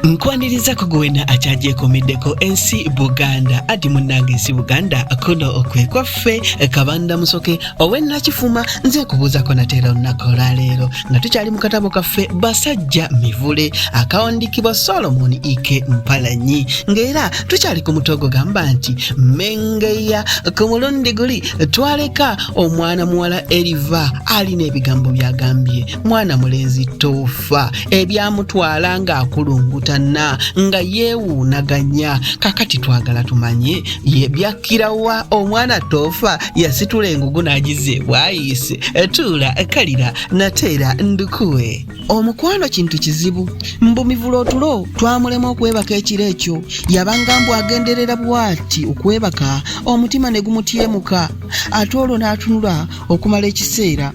nkwaniriza ku gwena akyagyekomeddeko ensi buganda ati munnange ensi buganda kuno okwe kwaffe kabanda musoke owennakifuma nze kubuuzako nateera olunaku olwaleero nga tukyali mu katabo kaffe basajja mivule akawandikibwa solomon ike mpalanyi ng'era tukyali ku muto ogugamba nti mengeya ku mulundi guli twaleka omwana muwala eriva alina ebigambo byagambye mwana mulenzi tofu okufa ebyamutwala ng'akulungutana nga yeewuunaganya kakati twagala tumanye ye byakkirawa omwana toofa yasitula engugu n'agiza ebwayise tuula kalira nateera ndukuwe omukwano kintu kizibu mbu mivula otulo twamulema okwebaka ekiro ekyo yabanga mbu agenderera bwati okwebaka omutima ne gumutyemuka ate olwo n'atunula okumala ekiseera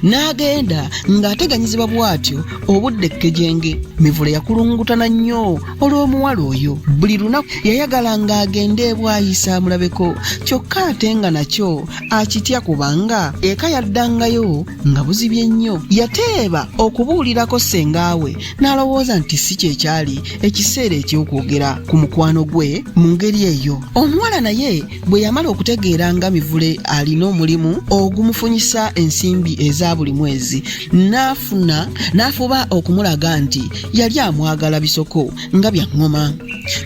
n'agenda ng'ateganyizibwa bw'atyo obudde ekkejenge mivule yakulungutana nnyo olw'omuwala oyo buli lunaku yayagala ng'agenda ebwayisa amulabeko kyokka ate nga nakyo akitya kubanga eka yaddangayo nga buzibye nnyo yateeba okubuulirako sengaawe n'alowooza nti si kye kyali ekiseera eky'okwogera ku mukwano gwe mu ngeri eyo omuwala naye bwe yamala okutegeera nga mivule alina omulimu ogumufunyisa ensimbi eza buli mwezi n'afuna n'afuba okumulaga nti yali amwagala bisoko nga bya ŋŋoma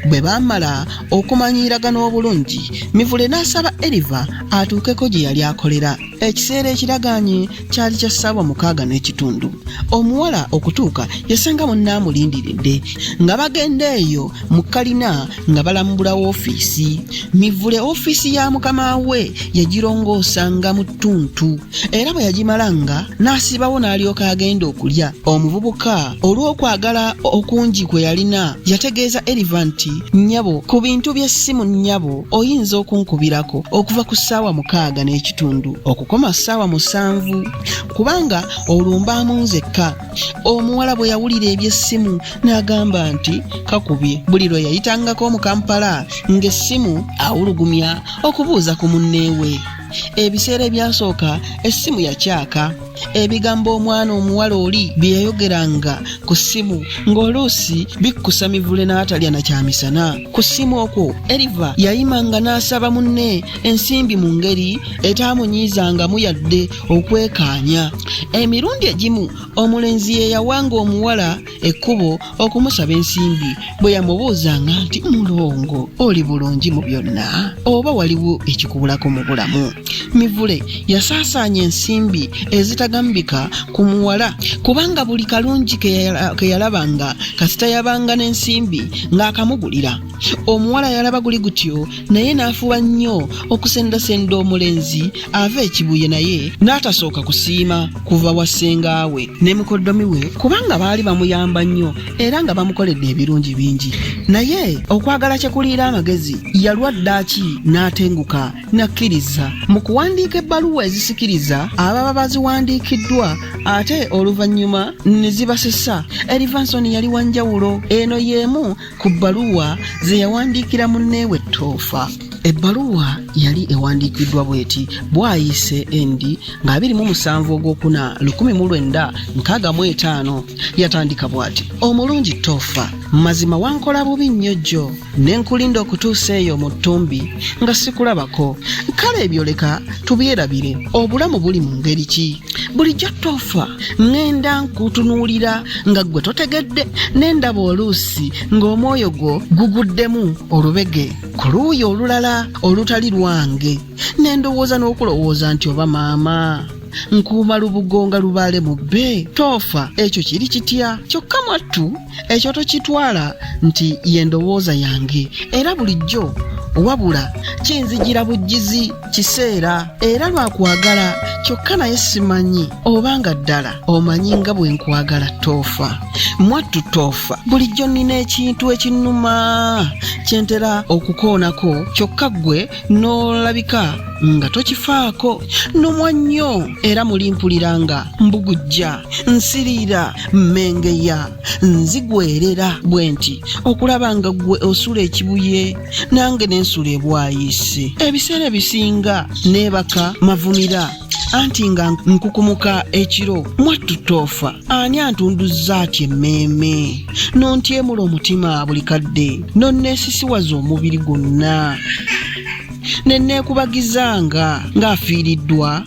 bwe baamala okumanyiiragana obulungi mivule n'asaba eriva atuukeko gye yali akolera ekiseera ekiragaanye kyali kya ssaawa mukaaga n'ekitundu omuwala okutuuka yasanga munne amulindiridde nga bagenda eyo mu kalina nga balambula woofiisi mivule ofiisi ya mukama we yagirongoosanga mu ttuntu era bwe yagimalanga n'asibawo n'alyoka agenda okulya omuvubuka olw'okwagala okungi kwe yalina yategeeza eriva nti nnyabo ku bintu by'essimu nnyabo oyinza okunkubirako okuva ku ssaawa mukaaga n'ekitundu okukoma ssaawa musanvu kubanga olumba mu nzekka omuwala bwe yawulira eby'essimu n'agamba nti kakubye buli lwe yayitangako mu kampala ng'essimu awulugumya okubuuza ku munneewe ebiseera ebyasooka essimu yakyaka ebigambo omwana omuwala oli bye yayogeranga ku ssimu ng'oluusi bikkusa mivule n'atalya na kyamisana ku ssimu okwo eriva yayimanga n'asaba munne ensimbi mu ngeri etaamunyiizangamu yadde okwekaanya emirundi egimu omulenzi ye yawanga omuwala ekkubo okumusaba ensimbi bwe yamubuuzanga nti mulongo oli bulungi mu byonna oba waliwo ekikubulako mu bulamu mivule yasaasaanya ensimbi ezitagambika ku muwala kubanga buli kalungi ke yalabanga kasita yabanga n'ensimbi ng'akamugulira omuwala yalaba guli gutyo naye n'afuba nnyo okusendasenda omulenzi ava ekibuye naye n'atasooka kusiima kuva wa ssenga we ne mukoddomi we kubanga baali bamuyamba nnyo era nga bamukoledde ebirungi bingi naye okwagala kye kuliira amagezi yalwa ddaaki n'atenguka n'akkiriza mu kuwandiika ebbaluwa ezisikiriza ababa baziwandiikiddwa ate oluvannyuma ne zibasesa erivansoni yali wa njawulo eno y'emu ku bbaluwa ze yawandiikira munneewe ttoofa ebbaluwa yali ewandiikiddwa bweti bwayise nd nga 27 ogwokuna 1965 yatandika bwati omulungi toofa mazima wankola bubi nnyo jjo ne nkulinda okutuusa eyo mu ttumbi nga sikulabako kale ebyo leka tubyerabire obulamu buli mu ngeri ki bulijjo toofa ŋŋenda nkutunuulira nga ggwe totegedde ne ndaba oluusi ng'omwoyo gwo guguddemu olubege ku luuyi olulala olutali lwange ne ndowooza n'okulowooza nti oba maama nkuuma lubugo nga lubaale mubbe toofa ekyo kiri kitya kyokka mwattu ekyo tokitwala nti ye ndowooza yange era bulijjo wabula kinzijira bujjizi kiseera era lwakwagala kyokka naye simanyi oba nga ddala omanyi nga bwe nkwagala toofa mwattu toofa bulijjo nnina ekintu ekinnuma kyentera okukoonako kyokka ggwe n'olabika nga tokifaako nomwa nnyo era muli mpulira nga mbugujja nsiriira mmengeya nzigwerera bwe nti okulaba nga ggwe osula ekibuye nange n'ensula ebwayise ebiseera ebisinga neebaka mavumira anti nga nkukumuka ekiro mwattu toofa ani antunduzza ati emmeeme nontyemula omutima buli kadde nonneesisiwaza omubiri gwonna ne nneekubagizanga ng'afiiriddwa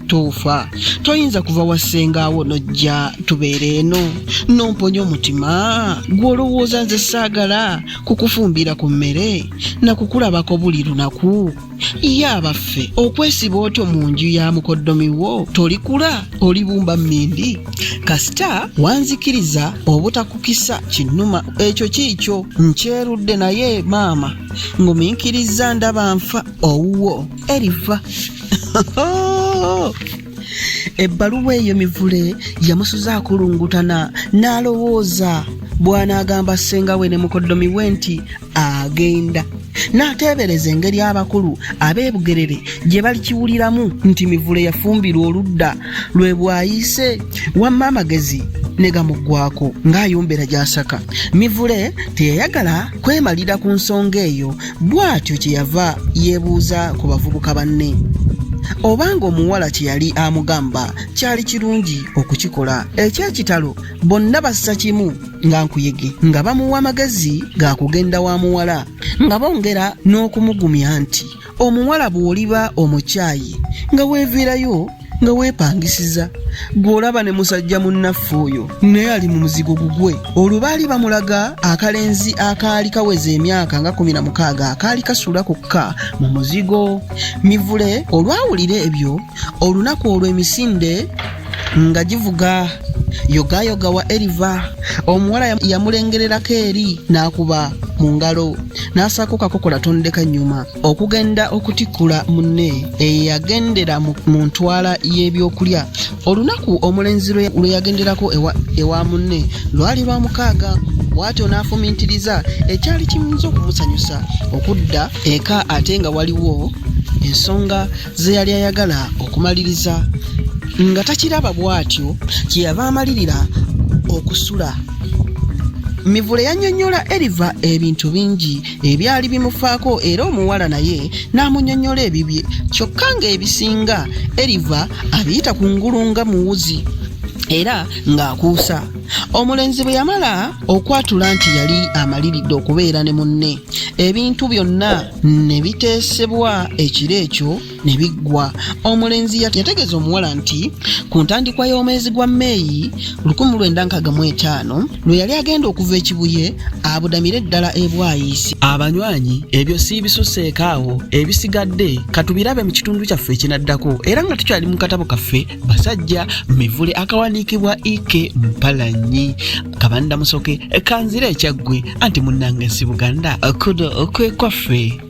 toofa toyinza kuva wa ssengaawo nojja tubeera eno nomponya omutima gw'olowooza nze saagala kukufumbira ku mmere na kukulabako buli lunaku ye abaffe okwesiba otyo mu nju ya mukoddomi wo tolikula olibumba mmindi kasita wanzikiriza obutakukisa kinnuma ekyo kiikyo nkyerudde naye maama nguminkiriza ndaba nfa owuwo eriva ebbaluwa eyo mivule yamusuza akulungutana n'alowooza bw'anaagamba ssenga we ne mukoddomi we nti agenda n'ateebereza engeri abakulu ab'e bugerere gye balikiwuliramu nti mivule yafumbirwa oludda lwe bwayise wamma amagezi ne gamuggwako ng'ayombera gy'asaka mivule teyayagala kwemalira ku nsonga eyo bw'atyo kye yava yeebuuza ku bavubuka banne obanga omuwala kye yali amugamba kyali kirungi okukikola eky'ekitalo bonna bassa kimu nga nkuyege nga bamuwa amagezi ga kugenda wa muwala nga bongera n'okumugumya nti omuwala bw'oliba omukyayi nga weeviirayo nga weepangisiza gw'olaba ne musajja munnaffe oyo naye ali mu muzigo gugwe olwo baali bamulaga akalenzi akaali kaweza emyaka nga kumi na mukaaga akaali kasuula kokka mu muzigo mivule olwawulira ebyo olunaku olwo emisinde nga givuga yogayoga wa eriva omuwala yamulengererako eri n'akuba mu ngalo n'asaako kakokola tondeka nnyuma okugenda okutikkula munne eyagendera mu ntwala y'ebyokulya olunaku omulenzi lwe yagenderako ewa munne lwali lwa mukaaga bwatyo n'afumintiriza ekyali kiyinza okumusanyusa okudda eka ate nga waliwo ensonga ze yali ayagala okumaliriza nga takiraba bw'atyo kye yava amalirira okusula mivule yannyonnyola eriva ebintu bingi ebyali bimufaako era omuwala naye n'amunnyonnyola ebibye kyokka ng'ebisinga eriva abiyita ku ngulu nga muwuzi era ng'akuusa omulenzi bwe yamala okwatula nti yali amaliridde okubeera ne munne ebintu byonna ne biteesebwa ekiro ekyo ne biggwa omulenzi yategeeza omuwala nti ku ntandikwa y'omwezi gwa meeyi 1955 lwe yali agenda okuva ekibuye abudamire ddala ebwayiisi abanywanyi ebyo si bisuseeko awo ebisigadde katubirabe mu kitundu kyaffe ekinaddako era nga tukyali mu katabo kaffe basajja mivule akawandiikibwa ike mpalanyi kabanda musoke kanzira ekyaggwe anti munnange si buganda kudo kwekwaffe